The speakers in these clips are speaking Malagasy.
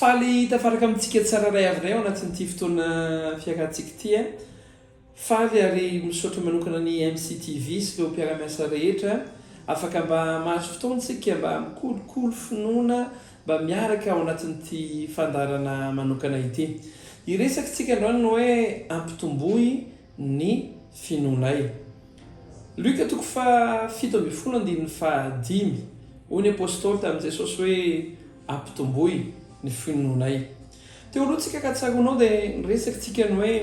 Faly tafaraka amintsika tsirairay avy indray ao anatin'ity fotoana fiakantsika ity. Faly ary misaotra manokana ny MCTV sy ireo mpiara-miasa rehetra. Afaka mba mahazo fotoana isika mba mikolokolo finoana, mba miaraka ao anatin'ity fandaharana manokana ity. Hiresaka isika androany ny hoe ampitomboy ny finoanay. Luc toko faha fito ambin'ny folo andininy faha dimy, Hoy ny Apostoly tamin'i Jesosy hoe, Ampitomboy ny finoanay. Teo aloha tsika ka tsaroanao dia niresaka tsika ny hoe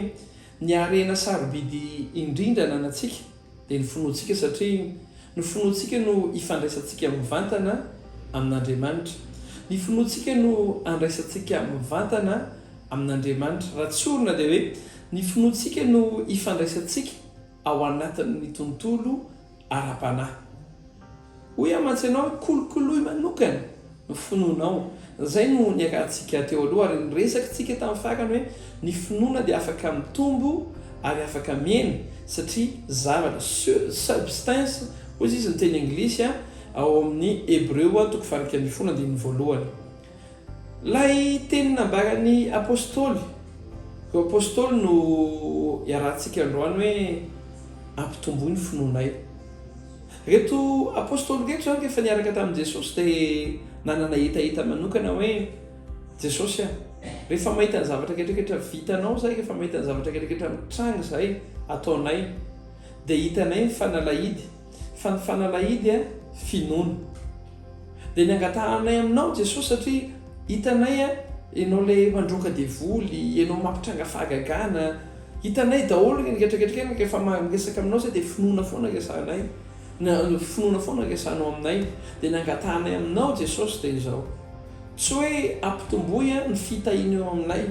ny harena sarobidy indrindra ananantsika dia ny finoantsika satria ny finoantsika no ifandraisantsika mivantana amin'Andriamanitra. Ny finoantsika no andraisantsika mivantana amin'Andriamanitra. Raha tsorina dia hoe ny finoantsika no ifandraisantsika ao anatin'ny tontolo ara-panahy. Hoy aho mantsy ianao hoe kolokoloy manokana ny finoanao. Izay no niakarantsika teo aloha ary niresakitsika tamin'ny farany hoe ny finoana dia afaka mitombo ary afaka mihena satria zavatra, substance, hoy izy ny teny anglisy ao amin'ny Hebreo toko faharoa ambin'ny folo andininy voalohany. Ilay teny nambaran'ny Apostoly, ireo Apostoly no iarahantsika androany hoe ampitomboy ny finoanay. Ireto Apostoly ireto izany rehefa niaraka tamin'i Jesosy dia nanana hetaheta manokana hoe, Jesosy a, rehefa mahita ny zavatra rehetrarehetra vitanao izahay, rehefa mahita ny zavatra rehetrarehetra mitranga izahay, ataonay, dia hitanay ny fanalahidy, Fa ny fanalahidy a finoana. Dia ny angatahanay aminao Jesosy satria hitanay a Ianao ilay mandroaka devoly, Ianao mampitranga fahagagana, hitanay daholo ny ketraketraka eny rehefa miresaka aminao zay dia finoana foana resahanay, finoana foana resahanao aminay. Dia ny angatahanay aminao Jesosy dia izao, tsy hoe ampitomboy a ny fitahiana eo aminay,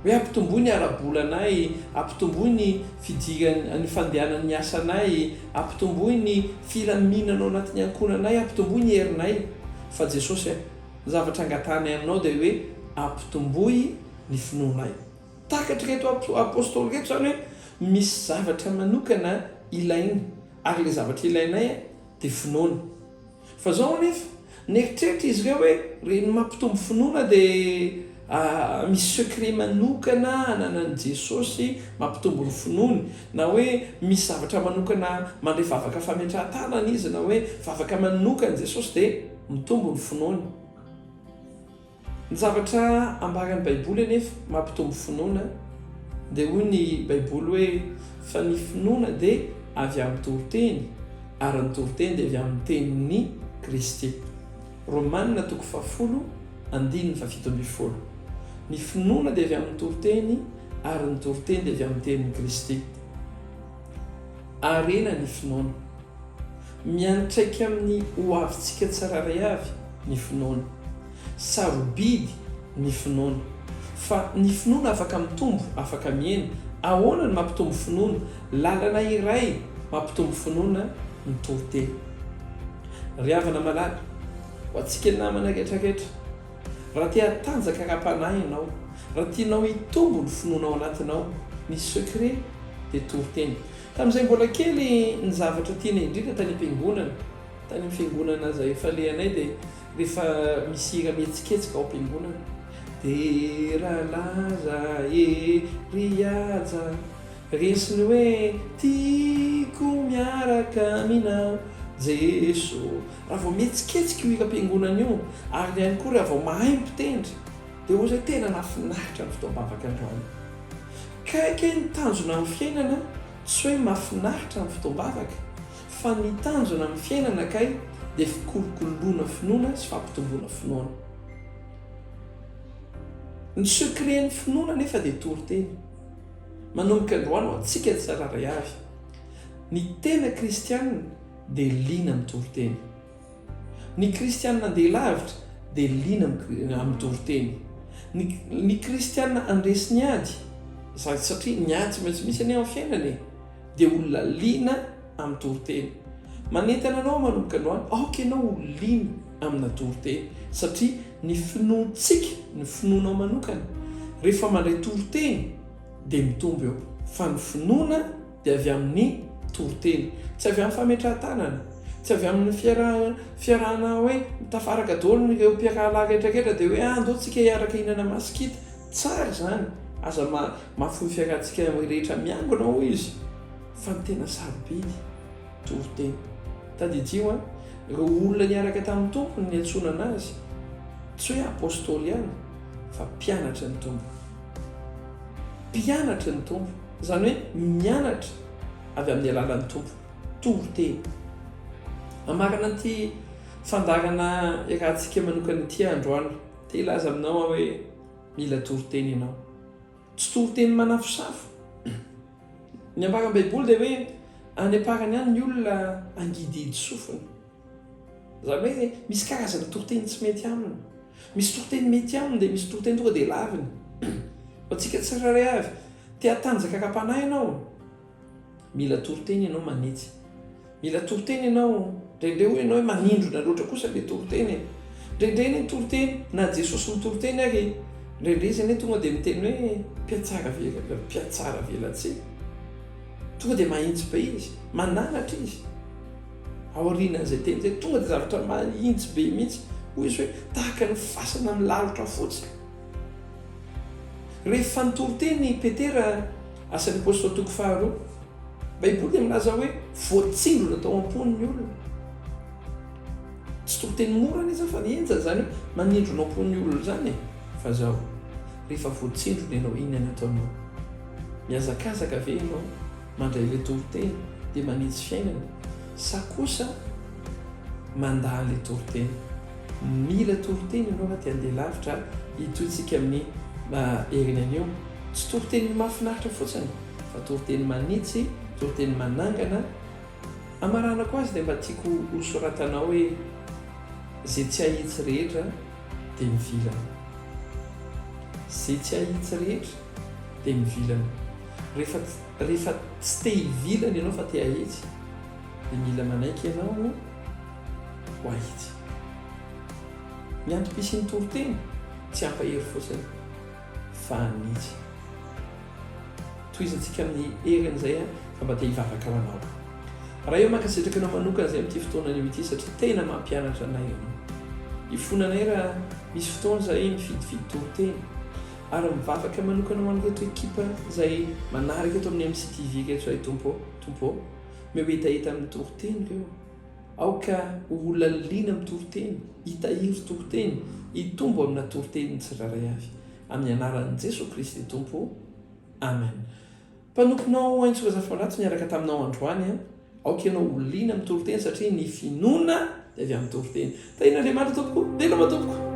Hoe ampitomboy ny ara-bolanay, ampitomboy ny fidiran'ny, ny fandehanan'ny asanay, ampitomboy ny filaminana ao anatin'ny ankohonanay, ampitomboy ny herinay. Fa Jesosy a, ny zavatra angatahanay Aminao dia hoe ampitomboy ny finoanay. Takatr'ireto Apostoly ireto izany hoe misy zavatra manokana ilainy, ary ilay zavatra ilainay dia finoana. Fa izao anefa, nieritreritra izy ireo hoe reny mampitombo finoana dia misy secret manokana ananan'i Jesosy mampitombo ny finoany, na hoe misy zavatra manokana mandray vavaka fametrahan-tanana izy, na hoe vavaka manokan'i Jesosy dia mitombo ny finoany. Ny zavatra ambaran'ny Baiboly anefa mampitombo finoana, dia hoy ny Baiboly hoe, Fa ny finoana dia avy amin'ny toriteny, ary ny toriteny dia avy amin'ny tenin'i Kristy. Romana toko fahafolo, andininy fahafito ambin'ny folo. Ny finoana dia avy amin'ny toriteny, ary ny toriteny dia avy amin'ny tenin'i Kristy. Harena ny finoana. Miantraika amin'ny hoavintsika tsirairay avy ny finoana. Sarobidy ny finoana. Fa ny finoana afaka mitombo, afaka mihena. Ahoana no mampitombo finoana? Lalana iray mampitombo finoana ny toriteny. Ry havana malala, ho antsika namana rehetra rehetra. Raha te hatanjaka ara-panahy ianao, raha tianao hitombo ny finoana ao anatinao, ny secret dia toriteny. Tamin'izay mbola kely, ny zavatra tiana indrindra tany am-piangonana, tany amin'ny fiangonana izay efa alehanay dia rehefa misy hira mihetsiketsika ao am-piangonana, dia raha laza e ry aja, resy ny hoe tiako miaraka aminao Jeso. Raha vao mihetsiketsika io hilam-piangonana io, ary ihany koa raha vao mahay mpitendry, dia ohatran'ny tena mahafinaritra ny fotoam-bavaka androany. Kay kay ny tanjona amin'ny fiainana, tsy hoe mahafinaritra ny fotoam-bavaka, fa ny tanjona amin'ny fiainana kay dia fikolokoloana finoana sy fampitomboana finoana. Ny secret-n'ny finoana anefa dia toriteny. Manomboka androany ho antsika tsirairay avy, ny tena kristiana, dia liana amin'ny toriteny. Ny kristiana andeha lavitra dia liana amin'ny toriteny. Ny, ny kristiana andresy ny ady, satria ny ady tsy maintsy misy anie amin'ny fiainana e, dia olona liana amin'ny toriteny. Manentana anao manomboka androany, aoka ianao ho liana amina toriteny, satria ny finoantsika, ny finoanao manokana, rehefa mandray toriteny dia mitombo eo, fa ny finoana dia avy amin'ny toriteny, tsy avy amin'ny fametrahan-tanana, tsy avy amin'ny fiarahana hoe tafaraka daholo ireo mpiarahalahy rehetra rehetra dia hoe ah ndao tsika hiaraka hihinana masikita, tsara izany, aza mahafoy fiarahantsika rehetra miangona hoy izy, fa ny tena sarobidy toriteny. Tadidio an, ireo olona niaraka tamin'ny Tompo no niantsonana azy, tsy hoe apostoly ihany fa mpianatry ny Tompo, mpianatry ny Tompo. Izany hoe mianatra avy amin'ny alalan'ny Tompo, toriteny. Hamarana an'ity fandaharana iarahantsika manokana ity aho androany. Te hilaza aminao aho hoe mila toriteny ianao. Tsy toriteny manafosafo. Ny ambaran'ny Baiboly dia hoe any am-parany any ny olona hangidihidy sofina. Izany hoe misy karazana toriteny tsy mety aminy. Misy toriteny mety aminy dia misy toriteny tonga dia laviny. Ho antsika tsirairay avy, te hatanjaka ara-panahy ianao, mila toriteny ianao manitsy. Mila toriteny ianao, indraindray hoy ianao hoe manindrona loatra kosa ilay toriteny e. Indraindray ny toriteny, na Jesosy mitoriteny ary, indraindray izy anie tonga dia miteny hoe mpiatsara velona, mpiatsara velatsihy. Tonga dia mahitsy be izy, mananatra izy. Aorianan'izay teny izay, tonga dia zavatra mahitsy be mihitsy. Hoy Izy hoe, Tahaka ny fasana milalotra fotsy. Rehefa nitory teny i Petera, Asan'ny Apostoly toko faharoa, Baiboly dia milaza hoe voatsindrona tao am-pony ny olona. Tsy toriteny mora anie izany fa henjana izany hoe manindrona ao am-pon'ny olona izany e. Fa izao, rehefa voatsindrona ianao, inona no ataonao? Mihazakazaka ve ianao? Mandray ilay toriteny dia manitsy fiainana sa kosa mandà an'ilay toriteny? Mila toriteny ianao raha te handeha lavitra ary hitohintsika amin'ny herin'aina io. Tsy toriteny mahafinaritra fotsiny fa toriteny manitsy, toriteny manangana. Hamaranako azy dia mba tiako hosoratanao hoe Ze tsy ahitsy rehetra dia mivilana. Ze tsy ahitsy rehetra dia mivilana. Rehefa rehefa tsy te hivilana ianao fa te hahitsy dia mila manaiky ianao ho hahitsy. Ny antom-pisian'ny toriteny tsy hampahery fotsiny fa hanitsy. Tohizantsika amin'ny heriny izay fa mba te hivavaka ho anao. Raha eo mankasitraka anao manokana izay amin'ity fotoana anio ity satria tena mampianatra anay ianao. Ifona anay raha misy fotoana izahay mifidifidy toriteny. ary mivavaka manokana ho an'ireto ekipa izay manaraka eto amin'ny MCTV ireto ray Tompo ô! Tompo ô! Omeo hetaheta amin'ny toriteny ireo, aoka ho olona liana amin'ny toriteny, hitahiry toriteny, hitombo amina toriteny ny tsirairay avy, amin'ny anaran'i Jesoa Kristy Tompo, Amen. Mpanomponao Haintsy Razafalato niaraka taminao androany an! Aoka ianao ho liana amin'ny toriteny satria ny finoana dia avy amin'ny toriteny. Tahian'Andriamanitra tompoko! Veloma tompoko!